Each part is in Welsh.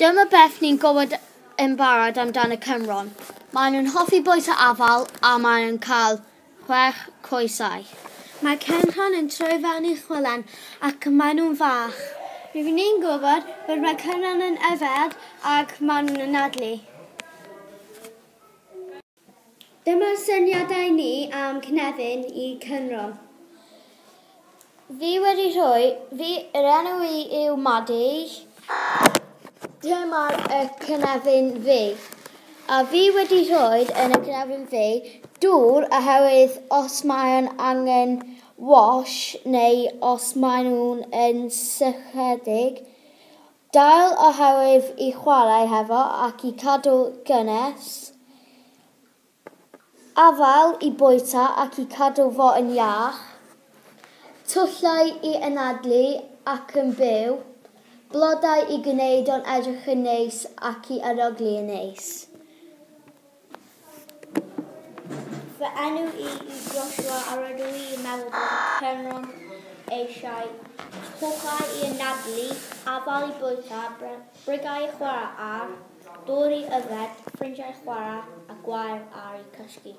Dyma beth ni'n gwybod yn barod amdan y Cymron, maen nhw'n hoffi bois a afal a maen nhw'n cael chwech coesau. Mae Cynrhon yn troi fewn i chwilen ac maen nhw'n fach. Rydyn ni'n gwybod bod mae Cynrhon yn yfed ac maen nhw'n anadlu. Dyma syniadau ni am Cynefin i Cynro. Fi wedi rhoi, fi, yr enw i yw Maddy. Dyma y cynefin fi. A fi wedi rhoi yn y cynefin fi dŵr oherwydd os mae'n angen wash neu os maen nhw'n yn sychedig, Dail oherwydd i chwarae hefo ac i cadw'r gynnes, afael i bwyta ac i cadw fo yn iach, tyllau i anadlu ac yn byw, blodau i gwneud o'n edrych yn neis ac i arogli yn neis. Fy enw i yw Joshua a rydw i yn meddwl bod y Penrhyn eisiau cwchau i anadlu, afael i bwyta, brigau i chwarae ar, dŵr i yfed, ffrindiau i chwarae a gwair ar i cysgu.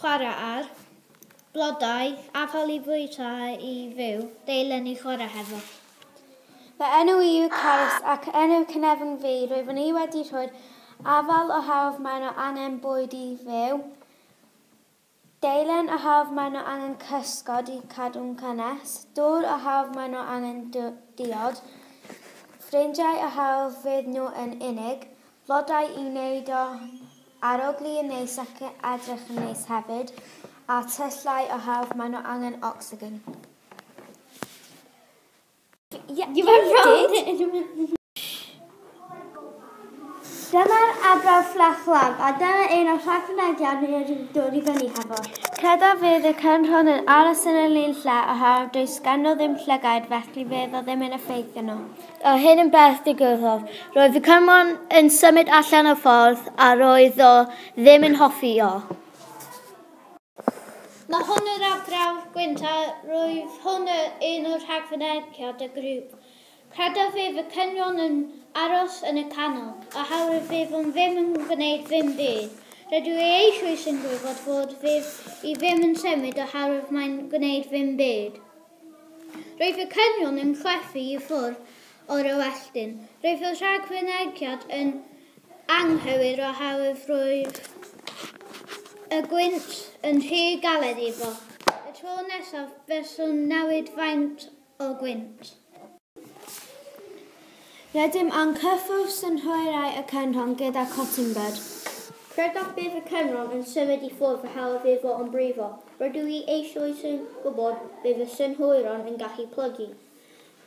chwarae ar, blodau, afal i fwyta a i fyw, deilen i chwarae hefo. Fy enw i yw Carys ac enw cynefin fi, rwyf i wedi rhoi'r afal o hawdd mae nhw angen bwyd i fyw, deilen o hawdd mae nhw angen cysgod i cadw'n cynnes, dŵr o hawdd mae nhw angen diod, ffrindiau o hawdd fydd nhw yn unig, Blodau i wneud o arogli yn neis ac edrych yn neis hefyd, a tyllau o hawdd, maen nhw angen ocsigen. Yeah, you were wrong! Dyma'r arbrawf fflach-laf, a dyna un o'r rhai fynediad ni wedi dod i fyny hefo. Credaf fydd y cyrn hwn yn aros yn yr un lle o hawdd, does gan nhw ddim llygaid, felly fydd o ddim yn effeithio nhw. A hyn yn beth digwyddodd. Roedd y cymon yn symud allan o'r ffordd a roedd o ddim yn hoffi o. Mae hwn yr arbrawf gwynt a roedd hwn un o'r rhagfynegiad y grŵp. Credaf fydd y cynwon yn aros yn y canol, a hawr y fydd o'n ddim yn gwneud ddim byd. Rydw i eisoes yn gwybod fod fydd i ddim yn symud o harwydd mae'n gwneud ddim byd. Roedd y canyon yn chwerthin i ffwrdd o'r Ewelldin. Roedd y rhagfynegiad yn anghywir oherwydd roedd y gwynt yn rhy galed iddo. Y tro nesaf, buaswn newid faint o gwynt. Rydym yn cyffwrdd synhwyrau y Cynrhon gyda Cottingbird. Credaf bydd y Cynrhon yn symud i ffwrdd a hawdd fydd fo yn brifo. Rydw i eisoes yn gwybod bydd y synhwyron yn gallu plygu.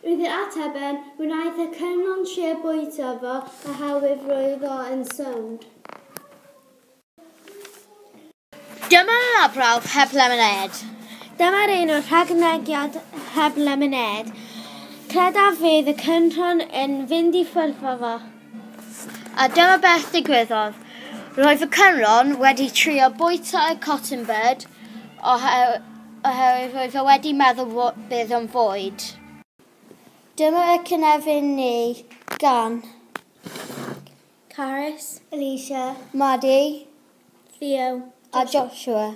Wrth i'r ateb ben, wnaeth y Cynrhon trio bwyta fo a hawdd fydd roedd o yn sownd. Dyma labrawf heb lemonêd. Dyma'r un o'r rhagnegiad heb lemonêd. Credaf fydd y cynrhon yn fynd i ffwrdd o fo. A dyma beth digwyddodd. Roedd y cynrhon wedi trio bwyta y cotton bud oherwydd roedd o wedi meddwl bydd o'n fwyd. Dyma y cynefin neu gan. Carys. Alicia. Maddie. Theo. A Joshua.